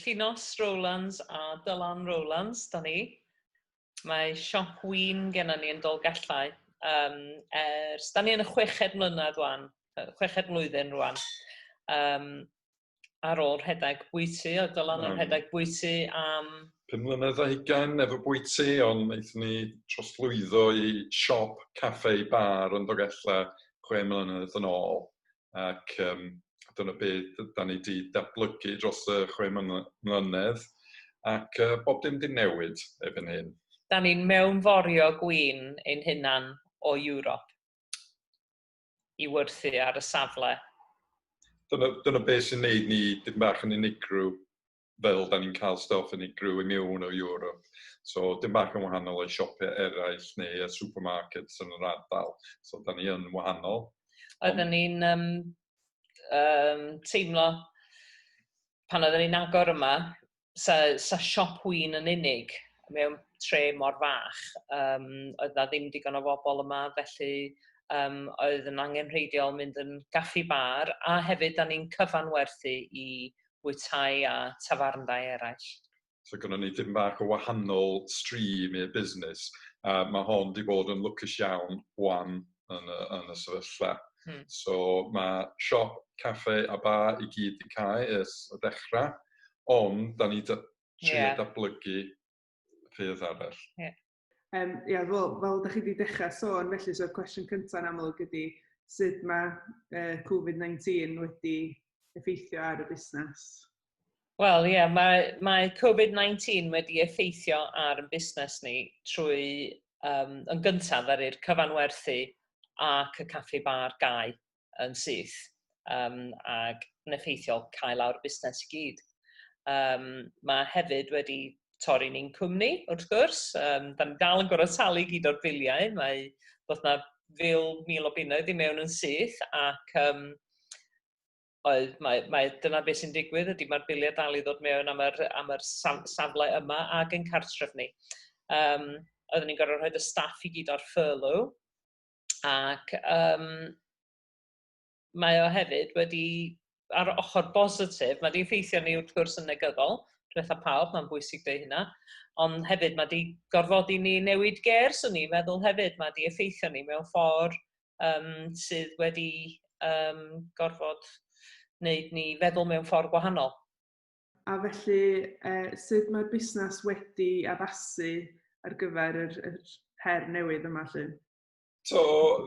Llinos Rowlands a Dylan Rowlands 'da ni. Mae siop win gennon ni yn Dolgellau um, ers... Da ni yn y chweched mlynedd rwan, chweched mlwyddyn rwan. Um, ar ôl rhedeg bwyty, oedd Dylan yn rhedeg bwyty am... Pum mlynedd a hugain efo bwyty, ond wnaethon ni trosglwyddo i siop, caffe, bar yn Dolgellau chwe mlynedd yn ôl. ac yym dyna be' d- 'dan ni 'di datblygu dros y chwe mly- mlynedd ac yy bob dim 'di newid erbyn hyn. 'Dan ni'n mewnforio gwin ein hunan o Ewrop i werthu ar y safle. Dyna dyna be' sy'n neud ni dipyn bach yn unigryw fel da ni'n cael stwff yn unigryw i mewn o Europe. So, dim bach yn wahanol o'i siopau eraill neu y supermarkets yn yr ardal. So, da ni yn wahanol. Oedden ni'n um, um, teimlo pan oedden ni'n agor yma, sa, sa siop wyn yn unig mewn tre mor fach, um, oedd na ddim digon o fobl yma, felly um, oedd yn angenrheidiol mynd yn gaffi bar, a hefyd da ni'n cyfanwerthu i bwytai a tafarndai eraill. So gynnon ni dipyn bach o wahanol stream i'r busnes, a ma' hon 'di bod yn lwcus iawn ŵan yn y yn y sefyllfa. Hmm. So ma' siop, caffe a bar i gyd 'di cau ers y dechra, ond 'dan ni 'di trio... Ie. ...datblygu ffyrdd arall. Ie. Yym ia fel fel 'dach chi 'di dechra sôn felly so'r cwestiwn cynta'n amlwg ydi sud ma' yy covid nineteen wedi effeithio ar y busnes? Wel ie mae mae covid nineteen wedi effeithio ar 'yn busnes ni trwy yym yn gyntaf ddaru'r cyfanwerthu ac y caffi bar gau. yn syth um, ac yn effeithiol cael lawr busnes i gyd. Um, mae hefyd wedi torri ni'n cwmni, wrth gwrs. Um, da ni dal yn gorfod talu gyd o'r biliau. Mae bod na fil mil o bunnoedd i mewn yn syth ac um, oedd, mae, mae, dyna beth sy'n digwydd ydy mae'r biliau dal i ddod mewn am yr, am yr safle yma ac yn cartref ni. Um, oedden ni'n gorfod rhoi y staff i gyd ar furlough, ac yym mae o hefyd wedi ar y ochr bositif, mae 'di effeithio arni wrth gwrs yn negyddol, dwetha pawb, mae'n bwysig deud hynna, ond hefyd mae 'di gorfodi ni newid ger, swn i'n meddwl hefyd, mae 'di effeithio ni mewn ffordd um, sydd wedi um, gorfod wneud ni feddwl mewn ffordd gwahanol. A felly, eh, sut mae'r busnes wedi addasu ar gyfer yr, yr her newydd yma lle? So,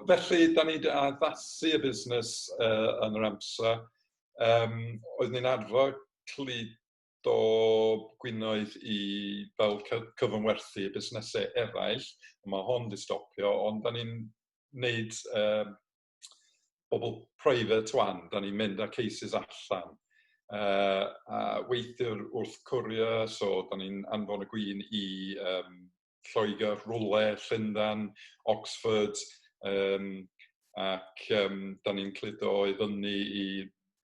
felly, da ni wedi addasu y busnes uh, yn yr amser. Um, oedd ni'n arfer cludo gwinoedd i fel cyfynwerthu y busnesau eraill, mae hon wedi stopio, ond da ni'n wneud um, bobl private wan, da ni'n mynd â cases allan uh, a weithiwr wrth courier, so da ni'n anfon y gwyn i um, Lloegr, Rwle, Llundan, Oxford, um, ac um, da ni'n cludo i fyny i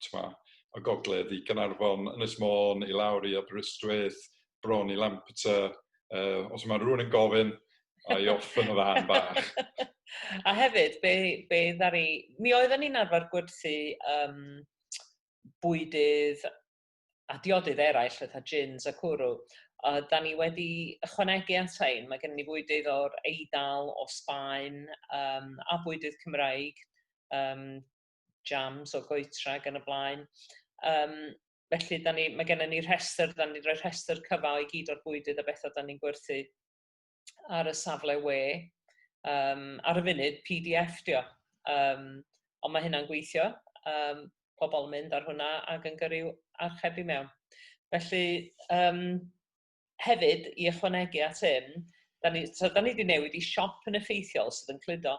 t'mo', y gogledd i Gaernarfon, Ynys Môn i lawr i Aberystwyth, bron i Lampeter, uh, os mae rhywun yn gofyn, a i off yn y fan bach. a hefyd, be, be ddari... Mi oeddwn ni'n arfer gwerthu um, bwydydd a diodydd eraill, fatha gins a cwrw, a da ni wedi ychwanegu atain, mae gen ni fwydydd o'r Eidal, o Sbaen, um, a bwydydd Cymraeg, um, jams o goetra ac yn y blaen. Um, felly, da ni, mae gennym ni rhestr, da ni'n rhoi rhestr cyfa i gyd o'r bwydydd a bethau da ni'n gwerthu ar y safle we. Um, ar y funud, PDF dio. Um, ond mae hynna'n gweithio. Um, pobl yn mynd ar hwnna ac yn gyrru archebu mewn. Felly, um, Hefyd, i ychwanegu at hyn, da ni, so, da ni wedi newid i siop yn effeithiol sydd yn cludo.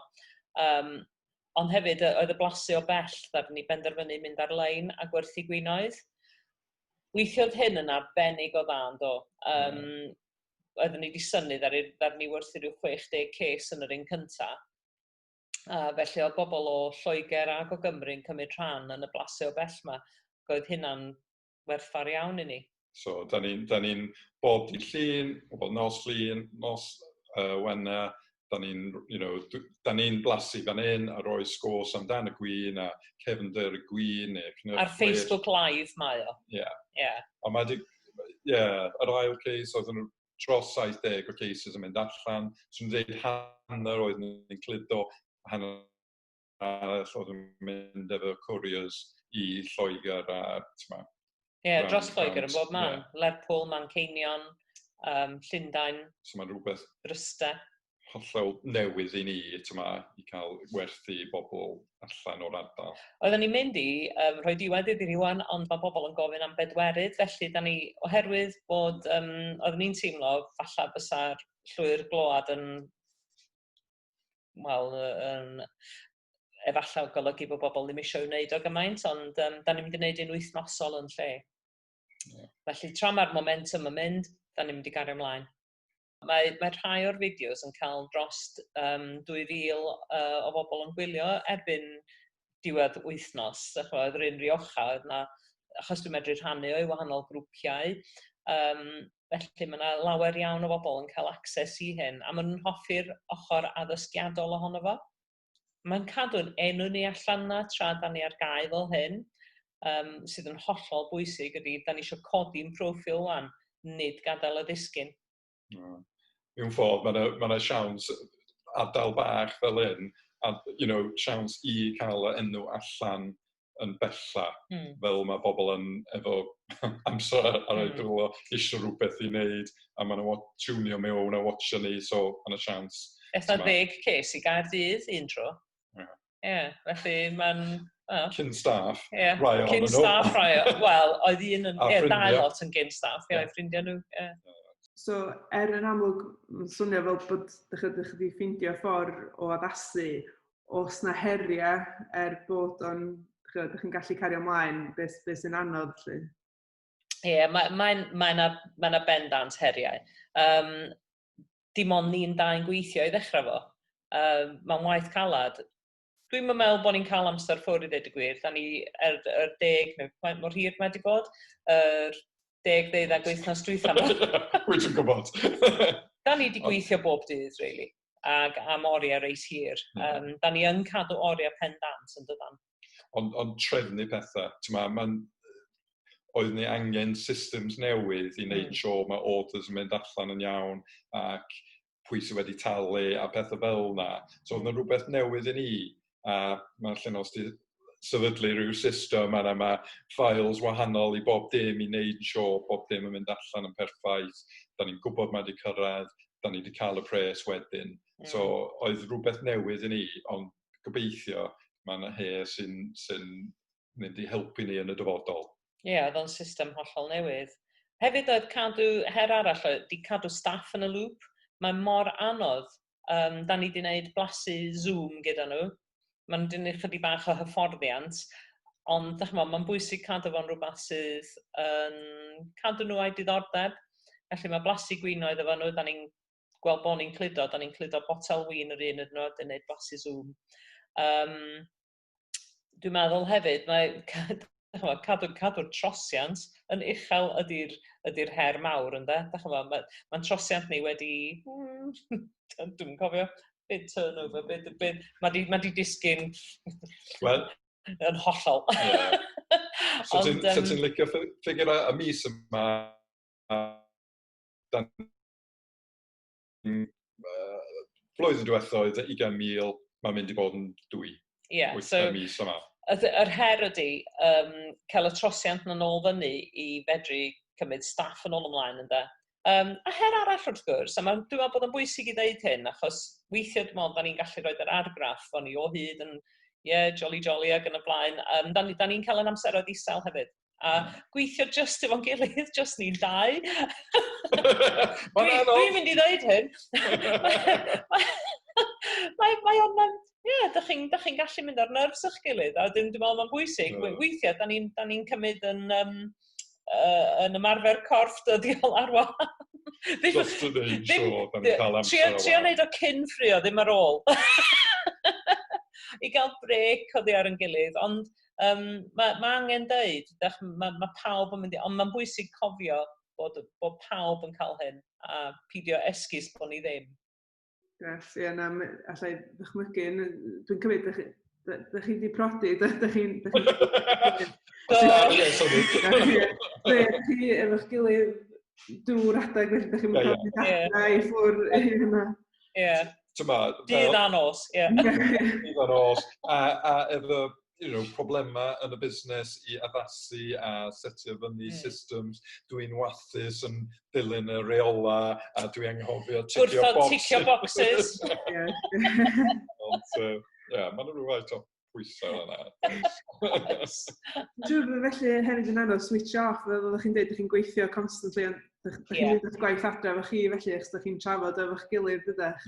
Um, ond hefyd, oedd y blasu o bell, da ni benderfynu mynd ar-lein a gwerthu gwinoedd. Weithiodd hyn yn arbennig o dda, do. Um, mm. Oedden ni wedi syni, ddar ni werthu rhyw 60 ces yn yr un cyntaf. A felly oedd bobl o Lloegr ac o Gymru yn cymryd rhan yn y blasu o bell yma. Roedd hynna'n werthfawr iawn i ni. So, da ni'n da ni bob dydd llun, bob nos llun, nos uh, wena, da ni'n you know, da ni'n blasu fan hyn a roi sgôs amdan y gwyn a cefnder y gwyn neu cnyrch Ar Facebook Live mae o. Ie. Yeah. Yeah. A mae di, yeah, yr ail case oedd yn dros 70 o cases yn mynd allan, sy'n dweud hanner oedd yn cludo hanner arall oedd yn mynd efo couriers i Lloegr a t'ma. Ie, yeah, dros Lloegr yn bob man. Yeah. Lerpwl, Manceinion, um, Llundain. So mae'n rhywbeth... Bryste. Hollol newydd i ni, t'ma, i cael werthu i bobl allan o'r ardal. Oedden ni'n mynd i um, rhoi diwedd iddi rwan, ond mae bobl yn gofyn am bedwerydd, felly da ni, oherwydd bod, um, oedden ni'n teimlo falle bysa'r llwyr gload yn wel yy yn efallai yn golygu bod bobl ddim eisiau wneud o gymaint, ond um, da ni'n mynd i wneud un wythnosol yn lle. Yeah. Felly tra mae'r momentum yn mynd, da ni'n mynd i gario ymlaen. Mae, mae rhai o'r fideos yn cael dros um, 2,000 uh, o bobl yn gwylio erbyn diwedd wythnos, dach ch'mod, oedd Ryn Rioja, oedd 'na... achos dwi'n medru rhannu o i wahanol grwpiau, yym felly ma' 'na lawer iawn o bobl yn cael access i hyn, a maen nhw'n hoffi'r ochr addysgiadol ohono fo. Mae'n cadw'n enw ni allan 'na tra 'dan ni ar gau fel hyn, yym sydd yn hollol bwysig ydi, 'dan ni isio codi'n proffil 'wan, nid gadael o ddisgyn. Hmm. Mewn ffordd, mae yna ma yna siawns adael bach fel hyn, a you know, siawns i cael y enw allan yn bella, mm. fel mae pobl yn efo amser ar, ar ei dwylo, hmm. mm. eisiau rhywbeth i wneud, a maen nhw'n tunio mewn a watcha ni, so mae yna siawns. Eitha ddeg ces i gair ddydd un tro. Yeah. Ie, felly mae'n... Wel... Cyn staff, yeah. rai ohono Cyn staff, rai o... Wel, oedd un yn... Ie, dau lot yn gyn staff, ie, yeah. ffrindiau nhw, ie. Yeah. So, er yn amlwg, mae'n swnio fel bod ydych chi wedi ffeindio ffordd o addasu os na heriau er bod o'n, ydych chi'n gallu cario ymlaen beth, beth sy'n anodd lle? Ie, yeah, mae'n mae, mae, mae, mae na bendant heriau. Um, dim ond ni'n dau yn gweithio i ddechrau fo. Um, mae'n waith calad. Dwi'n yn meddwl bod ni'n cael amser ffwr i ddweud y gwir. Da ni er, er deg, neu mor hir mae wedi bod, er deg ddeuddag wythnos drwytha yma. Wyt ti'n gwybod. da ni wedi gweithio bob dydd, really, ag am oriau reis hir. Um, da ni yn cadw oriau pen dant yn dydan. ond, ond trefnu pethau. Tyma, mae'n oedd ni angen systems newydd i wneud mm. sio mae orders yn mynd allan yn iawn ac pwy sydd wedi talu a pethau fel yna. So oedd yna rhywbeth newydd i ni a mae'n lle nos di sefydlu rhyw system a mae files wahanol i bob dim i wneud sio bob dim yn mynd allan yn perffaith. Da ni'n gwybod mae wedi cyrraedd, da ni wedi cael y pres wedyn. Mm. So oedd rhywbeth newydd i ni, ond gobeithio mae yna her sy'n sy mynd i helpu ni yn y dyfodol. Ie, yeah, oedd o'n system hollol newydd. Hefyd oedd cadw, her arall oedd, di cadw staff yn y lŵp. Mae mor anodd, um, da ni di wneud blasu Zoom gyda nhw. Mae nhw'n dynnu chydig bach o hyfforddiant. Ond, da chymod, mae'n bwysig cadw fo'n rhywbeth sydd yn cadw nhw a'i diddordeb. Felly mae blasu gwinoedd efo nhw, da ni'n gweld bod ni'n cludo, da ni'n cludo botel win yr un yn nhw, dyn neud blasu zoom. Um, dwi'n meddwl hefyd, mae cadw'r cadw trosiant yn uchel ydy'r ydy her mawr ynde. Dach chi'n meddwl, mae'n ma trosiant ni wedi, mm, dwi'n cofio, byd turnover, byd, byd, mae di, ma di disgyn well, yn hollol. Yeah. so ti'n um, so licio ffigur a, a mis yma, a, dan flwyddyn diwethaf oedd 20,000, mae'n mynd i bod yn dwy. Ie, yeah, so... mis yma. Yr her ydy um, cael y trosiant yn ôl fyny i fedru cymryd staff yn ôl ymlaen ynda. Um, a her arall wrth gwrs, a mae'n dwi'n meddwl bod yn bwysig i ddeud hyn, achos weithiau dwi'n meddwl, da ni'n gallu rhoi yr argraff, o'n ni o hyd yn, ie, yeah, jolly jolly ac yn y blaen, um, da ni'n ni cael yn amseroedd isel hefyd. a gweithio just efo'n gilydd, just ni'n dau. Dwi'n mynd i ddweud hyn. Mae mae o'n um, ie, da chi'n da chi'n gallu mynd ar nerves o'ch gilydd a dwi'n dwi'n meddwl mae'n bwysig mm. weithiau da ni'n da ni'n cymryd yn um, uh, yn ymarfer corff dyddiol ar wahan. ddim, Just to name ddim, sure, da ni'n cael amser ar Trio wneud o cyn ffrio, ddim ar ôl. I gael brec o ddi ar yn gilydd, ond Um, mae, mae angen dweud, mae, mae pawb yn mynd i, ond mae'n bwysig cofio bod, bod pawb yn cael hyn a pidio esgus bod ni ddim. Yes, ie, yeah, na, allai ddychmygu, dwi'n cymryd, da chi, da, da chi di prodi, da, da chi'n... Da chi'n... Da chi efo'ch gilydd dŵr adeg, felly da chi'n mynd i ffwr hyn yma. Ie. Tymod, Dydd a nos, ie. Dydd a nos. A, a efo you know, problemau yn y busnes i addasu a setio fyny mm. systems. Dwi'n wathus yn dilyn y reola a dwi anghofio ticio boxes. Gwrthod ticio boxes. Ond, uh, yeah, mae'n rhywbeth o. pwysau yna. Dwi'n meddwl felly hefyd yn anodd switch off, fel oeddech chi'n dweud, ydych chi'n gweithio constantly, ond ydych chi'n yeah. gwneud gwaith adre efo chi felly, ydych chi'n trafod efo'ch gilydd ydych.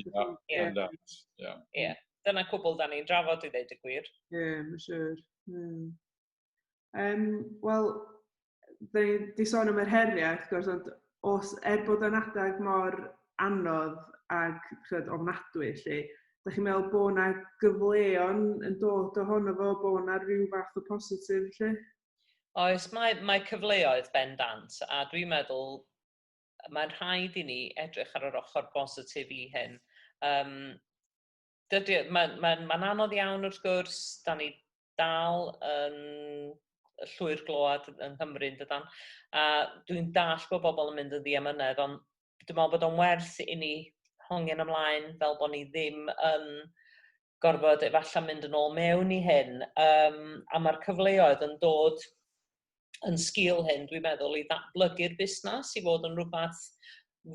Ie, dyna cwbl da ni'n drafod i ddeud y gwir. Ie, mae'n siwr. Um, Wel, da ni wedi sôn am yr heriau, wrth gwrs, ond os, er bod o'n adeg mor anodd ac chyd, ofnadwy, lle, da chi'n meddwl bod yna gyfleon yn dod ohono fo, bod yna rhyw fath o positif, lle? Oes, mae, mae cyfleoedd bendant, a dwi'n meddwl mae'n rhaid i ni edrych ar yr ochr bositif i hyn. Um, dydy, mae'n mae, mae anodd iawn wrth gwrs, da ni dal yn llwyr glywed yng Nghymru yn dydan? A dwi'n dall bod bobl yn mynd yn ddiamynedd, ond dwi'n meddwl bod o'n werth i ni hongian ymlaen fel bod ni ddim yn gorfod efallai mynd yn ôl mewn i hyn. Um, a mae'r cyfleoedd yn dod yn sgil hyn, dwi'n meddwl, i ddatblygu'r busnes, i fod yn rhywbeth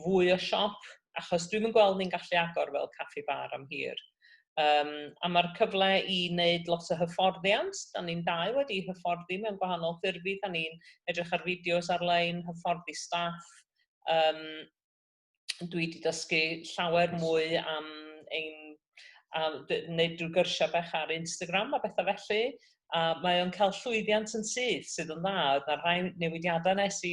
fwy o siop, achos dwi'n yn gweld ni'n gallu agor fel caffi bar am hir. Um, a mae'r cyfle i wneud lot o hyfforddiant, da ni'n dau wedi hyfforddi mewn gwahanol ffurfi, da ni'n edrych ar fideos ar-lein, hyfforddi staff, um, dwi wedi dysgu llawer mwy am ein a wneud drwy gyrsiau bech ar Instagram a bethau felly. A mae o'n cael llwyddiant yn syth sydd yn dda. Oedd yna rhai newidiadau nes i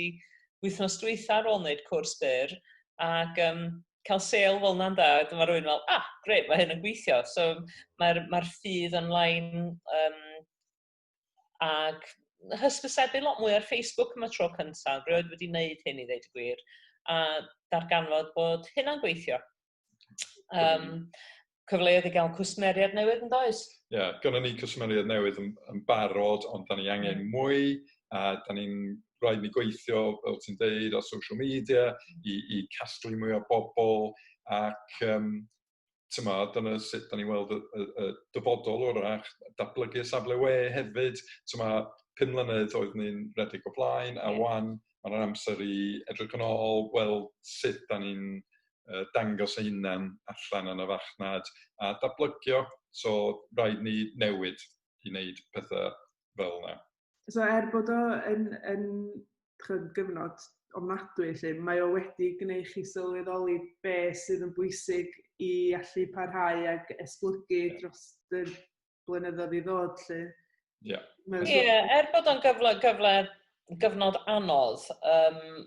wythnos dwytha ar ôl wneud cwrs byr ac um, cael sale fel yna'n da. Wedyn mae rhywun fel, ah, gret, mae hyn yn gweithio. So mae'r mae ffydd yn lain um, ac hysbysebu lot mwy ar Facebook am y tro cyntaf, rioed wedi wneud hyn i ddeud y gwir, a darganfod bod hynna'n gweithio. Um, cyfleoedd i gael cwsmeriad newydd yn does? Ie, yeah, gynnu ni cwsmeriad newydd yn, yn barod, ond da ni angen mm. mwy, a da ni'n rhaid ni gweithio, fel ti'n deud, ar social media i, i casglu mwy o bobl ac um, t'mod dyna sut 'dan ni'n weld y y y dyfodol orach, datblygu y safle we hefyd t'ma' pum mlynedd oedd ni'n redeg o blaen a 'wan ma' 'na amser i edrych yn ôl gweld sut 'dan ni'n yy dangos ein hunan allan yn y farchnad a datblygio so raid ni newid i neud pethe fel 'na. So er bod o yn, yn chyd, gyfnod ofnadwy lle, mae o wedi gwneud chi sylweddoli be sydd yn bwysig i allu parhau ac esblygu yeah. dros y blynyddoedd i ddod lle. Ie, yeah. yeah, er bod o'n gyfle, gyfle, gyfnod anodd, um,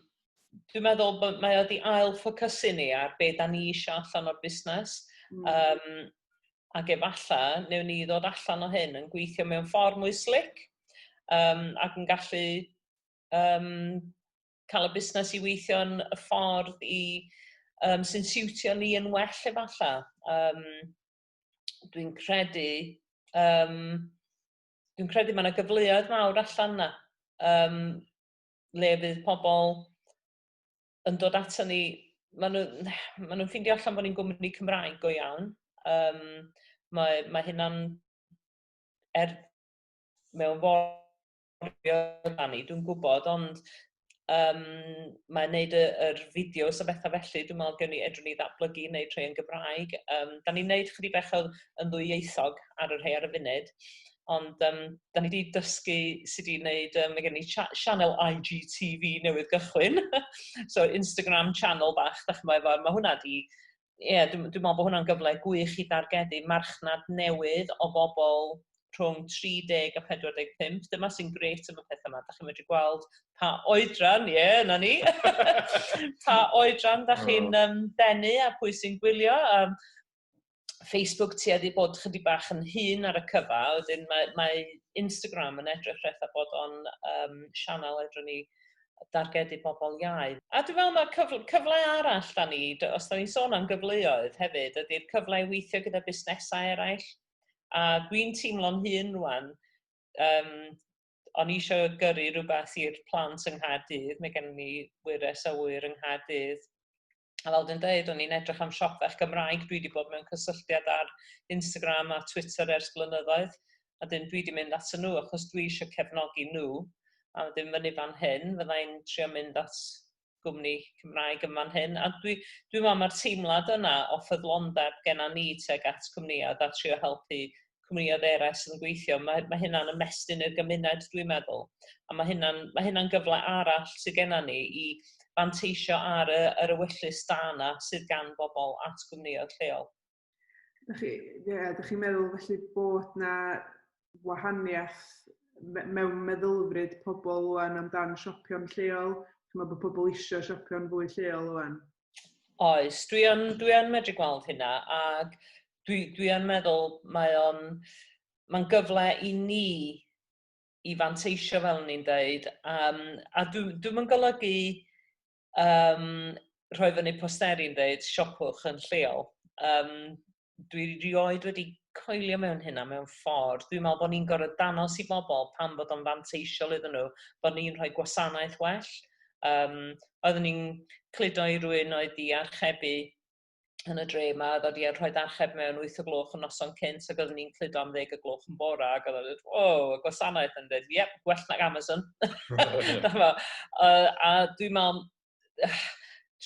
dwi'n meddwl bod mae o wedi ail ffocysu ni ar be da ni eisiau allan o'r busnes. Mm. Um, ac efalla, newn ni ddod allan o hyn yn gweithio mewn ffordd mwy slic um, ac yn gallu um, cael y busnes i weithio yn y ffordd i, um, sy'n siwtio ni yn well efalla. Um, dwi'n credu, um, dwi'n credu mae yna gyfleoedd mawr allan yna. Um, le fydd pobl yn dod ato ni, maen nhw'n ma nhw ffindio allan bod ni'n gwmni Cymraeg go iawn. Um, mae, mae hynna'n er mewn forio dan ni, dwi'n gwybod, ond um, mae'n neud y, yr fideos a bethau felly, dwi'n meddwl gen i edrych ni ddatblygu i wneud rhai yn Gymraeg. Um, da ni'n neud chydig bach yn ddwyieithog ar yr rhai ar y funud, Ond yym dan ni 'di dysgu sut i wneud yym mae gen ni cha- sianel IGTV newydd gychwyn so Instagram channel bach dach ch'mo' efo ma' hwnna 'di ie dwi m- dwi me'wl bo' hwnna'n gyfle gwych i dargedu marchnad newydd o bobl rhwng 30 a 45 dyma sy'n grêt am y petha 'ma dach chi'n medru gweld pa oedran ie 'na ni pa oedran dach chi'n yym denu a pwy sy'n gwylio yym Facebook tueddu bod chydig bach yn hun ar y cyfa, wedyn mae, mae Instagram yn edrych rheth a bod o'n um, sianel edrych ni dargedu bobl iau. A dwi'n meddwl mae cyfle, cyfle arall da ni, os da ni'n sôn am gyfleoedd hefyd, ydy'r cyfle i weithio gyda busnesau eraill. A dwi'n teimlo'n hun rwan, um, o'n i eisiau gyrru rhywbeth i'r plant yng Nghaerdydd, mae gen ni wyres o wyr yng Nghaerdydd, A fel dwi'n dweud, o'n i'n edrych am siop fach Gymraeg, dwi wedi bod mewn cysylltiad ar Instagram a Twitter ers blynyddoedd, a dyn dwi wedi mynd at nhw achos dwi eisiau cefnogi nhw, a wedyn fyny fan hyn, fydda i'n trio mynd at gwmni Cymraeg yn fan hyn, a dwi, dwi'n meddwl mae'r teimlad yna o ffyddlondeb genna ni tuag at cwmnïau a trio helpu cwmnïoedd eraill sydd yn gweithio. Mae, mae hynna'n ymestyn i'r gymuned, dwi'n meddwl. A mae hynna'n, mae hynna'n gyfle arall sydd gennym ni i fanteisio ar y, yr ewyllys da yna sydd gan bobl at gwmnïoedd lleol. Ydych chi, yeah, ydych chi'n meddwl felly bod na wahaniaeth mewn meddylfryd pobl rwan amdan siopio'n lleol? Mae bod pobl eisiau siopio'n fwy lleol rwan? Oes, dwi yn, dwi yn medru gweld hynna ac dwi, dwi yn meddwl mae o'n, mae'n gyfle i ni i fanteisio fel o'n i'n dweud, um, a dwi, dwi'n yn golygu um, rhoi fyny posteri yn dweud siopwch yn lleol. Um, dwi rioed wedi coelio mewn hynna mewn ffordd. Dwi'n meddwl bod ni'n gorfod danos i bobl pan bod o'n fanteisiol iddyn nhw, bod ni'n rhoi gwasanaeth well. Um, oeddwn ni'n cludo i rwy'n oedd i archebu yn y dre yma, oedd wedi rhoi archeb mewn 8 o gloch yn noson cynt, ac oeddwn ni'n cludo am ddeg o gloch yn bora, ac oedd wedi, o, y gwasanaeth yn dweud, ie, gwell nag Amazon. a, a dwi'n meddwl,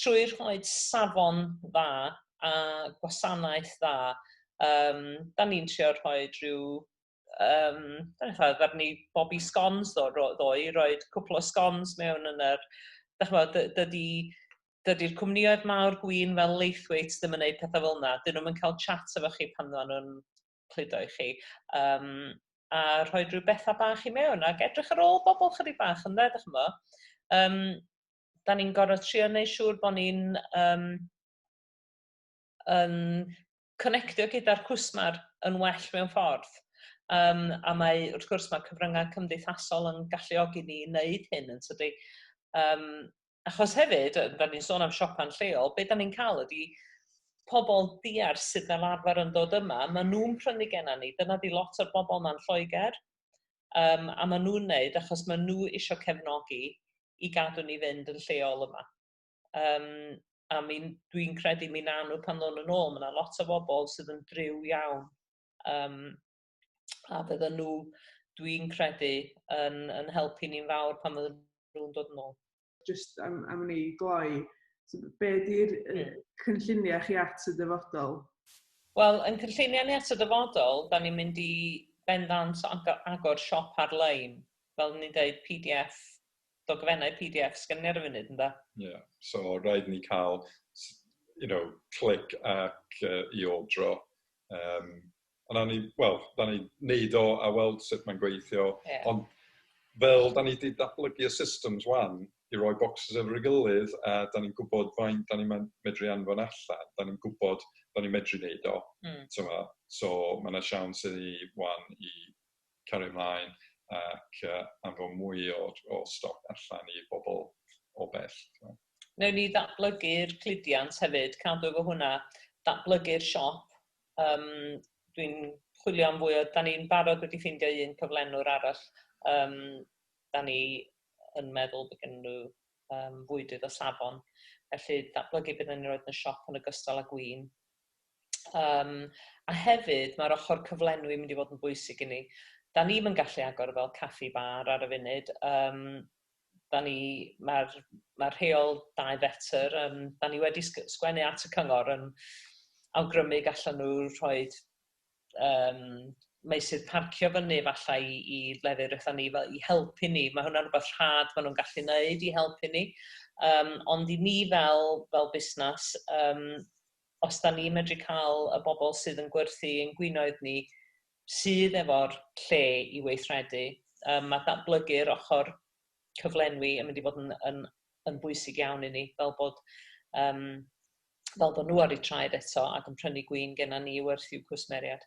trwy rhoi safon dda a gwasanaeth dda, um, da ni'n trio rhoi rhyw, um, da ni'n rhoi ni bobi scones ddo, ddoi, rhoi cwpl o scones mewn yn yr, da chi'n bod, dydy, dydy'r cwmnioedd mawr gwyn fel Leithwaite ddim yn gwneud pethau fel yna, dyn nhw'n cael chat efo chi pan nhw'n cludo i chi. Um, a rhoi rhyw bethau bach i mewn ac edrych ar ôl bobl chydig bach yn dde, dychmyg. yma. Um, da ni'n gorfod trio wneud siŵr bod ni'n um, yn connectio gyda'r cwsmer yn well mewn ffordd. Um, a mae, wrth gwrs, mae cyfryngau cymdeithasol yn galluogi ni wneud hyn yn tydi. Um, Achos hefyd, yy da ni'n sôn am siopa'n lleol, be' da ni'n ca'l ydi pobol diarth sydd fel arfer yn dod yma, ma' nhw'n prynu genna ni, dyna 'di lot o'r bobol 'ma'n Lloegr, yym a ma' nhw'n neud achos ma' nhw isio cefnogi i gadw ni fynd yn lleol yma. Yym a mi n- dwi'n credu mi nawn nhw pan ddown nhw'n ôl, ma' 'na lot o fobol sydd yn driw iawn, yym a bydden nhw, dwi'n credu, yn, yn helpu ni'n fawr pan fydden nhw'n dod yn ôl. Just am, am ni gloi, so, be ydy'r hmm. cynlluniau chi at y dyfodol? Wel, yn cynlluniau ni at y dyfodol, da ni'n mynd i bendant agor siop ar-lein, fel ni'n dweud PDF, dogfennau PDF sgan ni ar y funud, ynddo? Ie, yeah. so rhaid ni cael, you know, clic ac uh, i ordro. Um, a nawn ni, wel, nawn ni neud o a weld sut mae'n gweithio. Ie. Ond fel 'dan ni 'di datblygu y systems 'wan i roi bocsys ar ei gilydd a 'dan ni'n gwbod faint 'dan ni'n myn- medru anfon allan, 'dan ni'n gwbod bo' ni'n medru neud o. Hmm. T'mo'? So ma' 'na siawns i ni 'wan i cario mlaen ac yy anfon mwy o o stoc allan i bobol o bell, t'mo'? Newn ni ddatblygu'r cludiant hefyd, cadw efo hwnna, datblygu'r siop, Yym dwi'n chwilio am fwy o... Dan ni'n barod wedi ffeindio un cyflenwr arall. Yym dan ni yn meddwl bod gennyn nhw yym fwydydd o safon, felly datblygu be dan ni'n roid yn y siop yn ogystal â gwin. Yym a hefyd mae'r ochr cyflenwi yn mynd i fod yn bwysig i ni. Dan ni'm yn gallu agor fel caffi bar ar y funud, yym 'da ni, mae'r mae'r rheol dau fetr, yym 'da ni wedi sg- sgwennu at y cyngor yn awgrymu gallan nhw rhoi yym meysydd parcio fyny efallai i i lefydd rythan ni fel i helpu ni, mae hwnna'n rhywbeth rhad maen nhw'n gallu wneud i helpu ni, yym ond i ni fel fel busnes yym os 'da ni'n medru cael y bobl sydd yn gwerthu ein gwinoedd ni sydd efo'r lle i weithredu. Yym ma' datblygu'r ochr cyflenwi yn mynd i fod yn yn yn bwysig iawn i ni fel bod yym fel bod nhw ar eu traed eto ac yn prynu gwin genna ni i werth i'w cwsmeriaid.